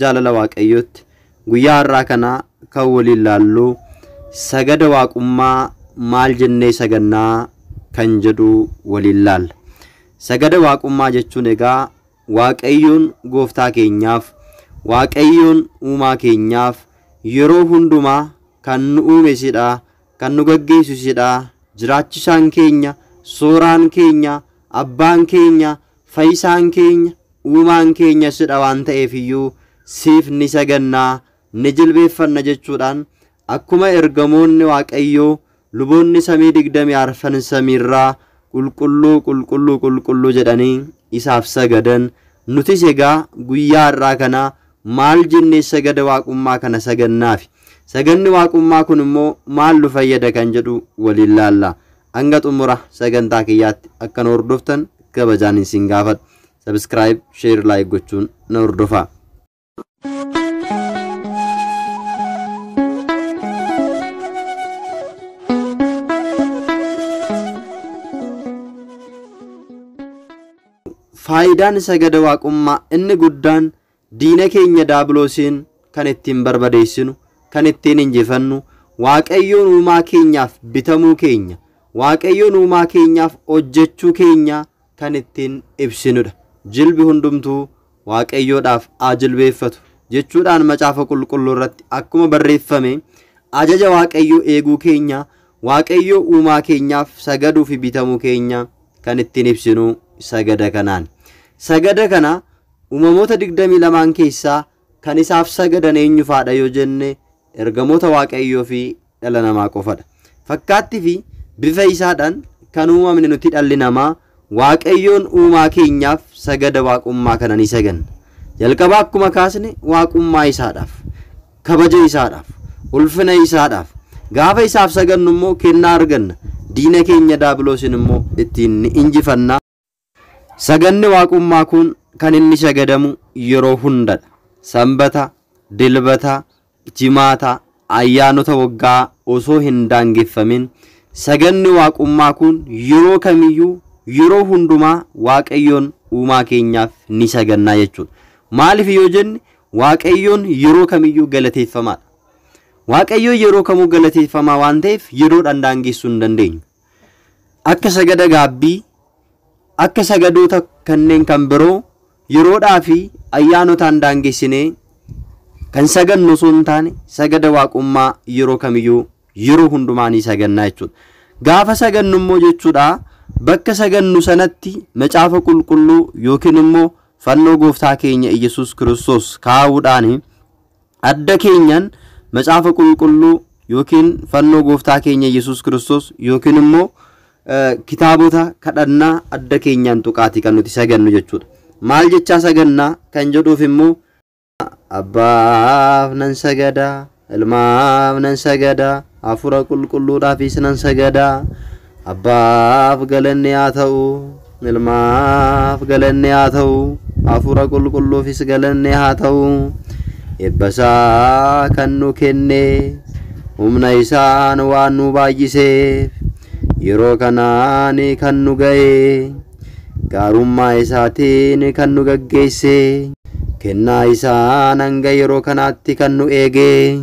jaalala Waaqayyootti guyyaa har'aa kana kan waliin laallu sagada waaqummaa maal jennee sagannaa kan jedhu waliin laalla. Sagada waaqummaa jechuun egaa Waaqayyoon gooftaa keenyaaf, Waaqayyoon uumaa keenyaaf yeroo hundumaa kan nu uume isidha, kan nu gaggeessu isidha, jiraachisaan keenya, sooraan keenya, abbaan keenya, fayyisaan keenya, Uumaan keenya sidha waan ta'eef iyyuu siif ni saganna, ni jilbeeffanna jechuudhaan akkuma ergamoonni Waaqayyoo luboonni samii digdamii arfan samiirraa Qulqulluu, Qulqulluu, Qulqulluu jedhanii isaaf sagadan, nutis egaa guyyaa har'aa kana maal jennee sagada Waaqummaa kana sagannaafi? Saganni Waaqummaa kun immoo maal nu fayyada kan jedhu waliin laalla. Hanga xumura sagantaa kiyyaatti akka na hordoftan kabajaan isin gaafadha. Subscribe, share, like gochuun na hordofaa. Faayidaan sagada waaqummaa inni guddaan Diina keenya Daabiloosiin kan ittiin barbadeessinu, kan ittiin injifannu, Waaqayyoon Uumaa keenyaaf bitamuu keenya, Waaqayyoon Uumaa keenyaaf hojjechuu keenya kan ittiin ibsinu dha. Jilbi hundumtuu Waaqayyoodhaaf haa jilbeeffatu! jechuudhaan Macaafa Qulqulluu irratti akkuma barreeffame, ajaja Waaqayyoo eeguu keenya, Waaqayyoo Uumaa keenyaaf sagaduu fi bitamuu keenya kan ittiin ibsinu sagada kanaani. Sagada kana Uumamoota 22n keessaa kan isaaf sagadan eenyufaadha yoo jenne ergamoota Waaqayyoo fi dhala namaa qofadha. Fakkaatti fi bifa isaadhan kan uumamne nuti dhalli namaa Waaqayyoon uumaa keenyaaf sagada Waaqummaa kana ni saganna. Jalqaba akkuma kaasne Waaqummaa isaadhaaf, kabaja isaadhaaf, ulfina isaadhaaf. Gaafa isaaf sagannu immoo kennaa arganna. Diina keenya Daabiloosin immoo ittiin ni injifanna. Sagadni Waaqummaa kun kan inni shagadamu yeroo hunda dha. Sanbata, Dilbata, Jimaata, ayyaanota waggaa osoo hin daangeffamin sagadni Waaqummaa kun yeroo kamiyyuu yeroo hundumaa Waaqayyoon uumaa keenyaaf ni sagannaa jechuu dha. Maaliif yoo jenne Waaqayyoon yeroo kamiyyuu galateeffamaa dha. Waaqayyoon yeroo kamuu galateeffamaa waan ta'eef yeroodhaan daangessuu hin dandeenyu. akka sagada gaabbii, akka sagadoota kanneen kan biroo yeroodhaa fi ayyaanotaan daangessinee kan sagannu osoo hin taane sagada waaqummaa yeroo kamiyyuu yeroo hundumaa ni sagannaa jechuudha. Gaafa sagannu immoo jechuudha bakka sagannu sanatti macaafa qulqulluu yookiin immoo fannoo gooftaa keenya Iyyasuus Kiristoos kaa'uudhaani. Adda keenyan Macaafa Qulqulluu yookiin fannoo Gooftaa keenya Yesuus Kiristoos yookiin immoo kitaabota kadhannaa adda keenyaan tuqaati kan nuti sagannu jechuudha. Maal jechaa sagannaa kan jedhuuf immoo Abbaaf nan sagada, Ilmaaf nan sagada, Hafuura Qulqulluudhaafis nan sagada. Abbaaf galanni haa ta'u, Ilmaaf galanni haa ta'u, Hafuura Qulqulluufis galanni haa ta'u. Eebba isaa kan nu kenne, humna isaan waan nu baay'iseef, yeroo kanaan kan nu ga'e, gaarummaa isaatiin kan nu gaggeesse, kennaa isaan hanga yeroo kanaatti kan nu eege,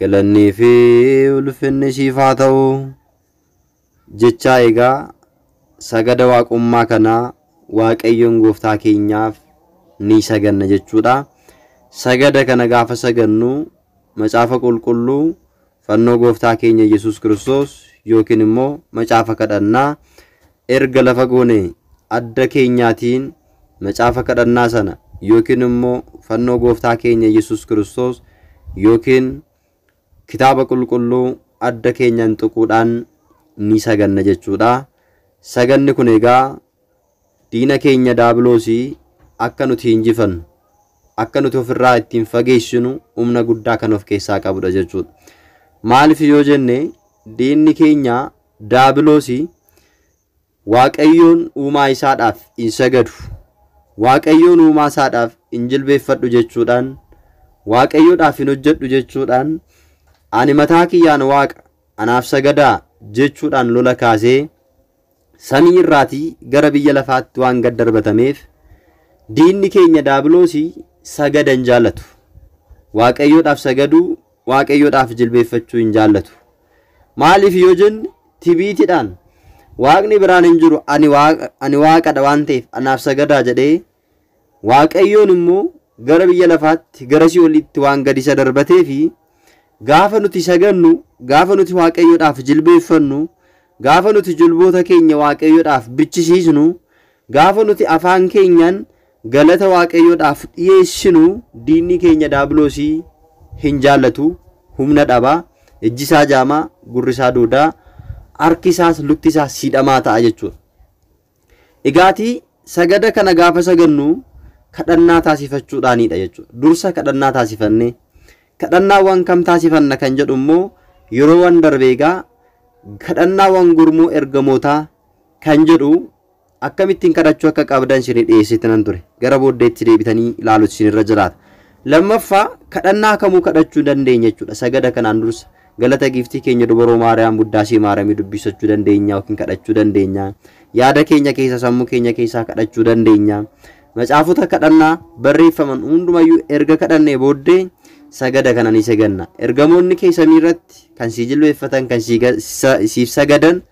Galannii fi ulfinni siif haa ta'u. Jechaa egaa sagada waaqummaa kana Waaqayyoon gooftaa keenyaaf ni saganna jechuudha. Sagada kana gaafa sagannu macaafa qulqulluu fannoo gooftaa keenya Yesuus Kiristoos yookiin immoo macaafa kadhannaa Erga lafa goonee, adda keenyaatiin macaafa kadhannaa sana yookiin immoo fannoo Gooftaa keenya Yesuus Kiristoos yookiin Kitaaba Qulqulluu adda keenyaan tuquudhaan ni saganna jechuudha. Saganni kun egaa diina keenya Daabiloosii akka nuti injifannu, akka nuti ofirraa ittiin fageessinu humna guddaa kan of keessaa qabudha jechuudha. Maaliif yoo jenne diinni keenya Daabilosi, Waaqayyoon uumaa isaadhaaf in sagadu, Waaqayyoon uumaa isaadhaaf in jilbeeffadhu jechuudhaan, Waaqayyodhaaf hin hojjedhu jechuudhaan, ani mataa kiyyaan Waaqa, anaaf sagadaa jechuudhaan lola kaasee samii irraatii gara biyya lafaatti waan gad darbatameef diinni keenya daabilosi sagada hin jaalatu. Waaqayyodhaaf sagaduu Waaqayyoodhaaf jilbeeffachuu hin jaallatu. Maaliif yoo jenne tibiitidhaan waaqni biraan hin jiru ani waaqa ani waaqadha waan ta'eef anaaf sagadaa jedhee Waaqayyoon immoo gara biyya lafaatti gara si'oliitti waan gadi isa darbatee fi gaafa nuti sagannu gaafa nuti Waaqayyoodhaaf jilbeeffannu gaafa nuti jilboota keenya Waaqayyoodhaaf bichisiisnu Gaafa nuti afaan keenyaan galata Waaqayyoodhaaf dhiyeessinu diinni keenya daabiloosii hin jaallatu, humna dhaba, ijji isaa jaama, gurri isaa duuda, harki isaas lutti isaas siidhamaa ta'a jechuudha. Egaati sagada kana gaafa sagannu kadhannaa taasifachuudhaanidha jechuudha. Dursa kadhannaa taasifannee kadhannaawwan kam taasifanna kan jedhu immoo yeroo waan darbeegaa kadhannaawwan gurmuu ergamootaa kan jedhu Akkamittiin kadhachuu akka qabdan isinii dhiyeesseetinan ture. Gara booddeetti deebitanii ilaaluutu isinirra jiraata. Lammaffaa, kadhannaa kamuu kadhachuu dandeenya jechuudha. Sagada kanaan dursa galata giiftii keenya dubaroo Maariyaam Buddaasee Maaramii dubbisachuu dandeenya yookiin kadhachuu dandeenya. Yaada keenya keessaa, sammuu keenya keessaa kadhachuu dandeenya. Macaafota kadhannaa barreeffaman hundumayyuu erga kadhannee booddee sagada kana ni saganna. Ergamoonni kee samiirratti kan sii jilbeeffatan, kan sii ga- sa- siif sagadan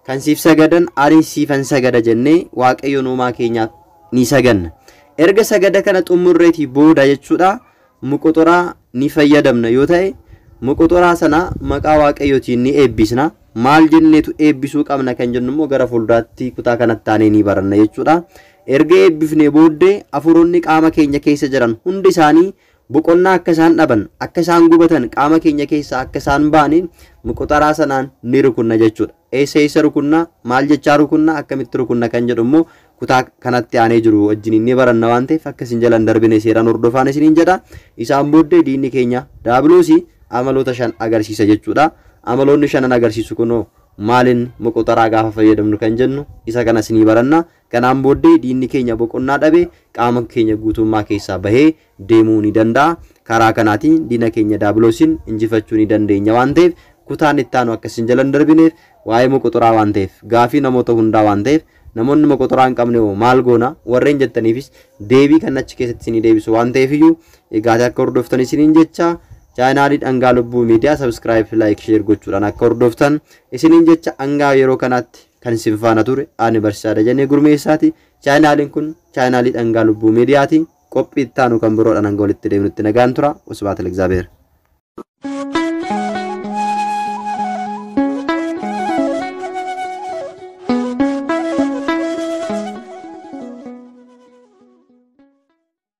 Kan siif sagadan anis siifan sagada jennee Waaqayyoon uumaa keenyaaf ni saganna. Erga sagada kana xummurreetii booda jechuudha moqoxoraa ni fayyadamna yoo ta'e moqoxoraa sana maqaa Waaqayyootiin ni eebbisna. Maal jenneetu eebbisuu qabna kan jennu immoo gara fuulduraatti kutaa kanatti aanee ni baranna jechuudha. Erga eebbifnee booddee afuuronni qaama keenya keessa jiran hundi isaanii Boqonnaa akka isaan dhaban, akka isaan gubatan, qaama keenya keessaa akka isaan ba'ani muquxaraa sanaan ni rukunna jechuudha. Eessa eessa rukunna, maal jechaa rukunna, akkamitti rukunna kan jedhu immoo kutaa kanatti aanee jiru wajjiniin ni baranna waan ta'eef akka isin jala hin darbine seeraan hordofaan isiniin jedha. Isaan booddee diinni keenya daabiloosi amaloota shan agarsiisa jechuudha. Amaloonni shanan agarsiisu kunoo maalin muquxaraa gaafa fayyadamnu kan jennu isa kanas ni baranna. Kanaan booddee diinni keenya boqonnaa dhabe qaama keenya guutummaa keessaa bahee deemuu ni danda'a. Karaa kanaatiin diina keenya Daabiloosiin injifachuu ni dandeenya waan ta'eef kutaan itti aanu akka isin jala hin darbineef waa'ee moqoxoraa waan ta'eef gaafii namoota hundaa waan ta'eef namoonni moqoxoraa hin qabne hoo maal goona warreen jettaniifis deebii kan achi keessatti isinii deebisu waan ta'eef iyyuu egaatee akka hordoftan isiniin jecha chaayinaalii dhangaa lubbuu miidiyaa sabskiraayib laayik sheer gochuudhaan akka hordoftan isiniin jecha hangaa yeroo kanaatti Kan isin faana ture ani barsiisaa Dajanee Gurmeessaati. Chaayinaaliin kun chaayinaalii dhangaa lubbuu miidiyaati. Qophii itti aanu kan biroodhaan hanga walitti deebinutti nagaan tura. Wasbaata Ligzaabeer.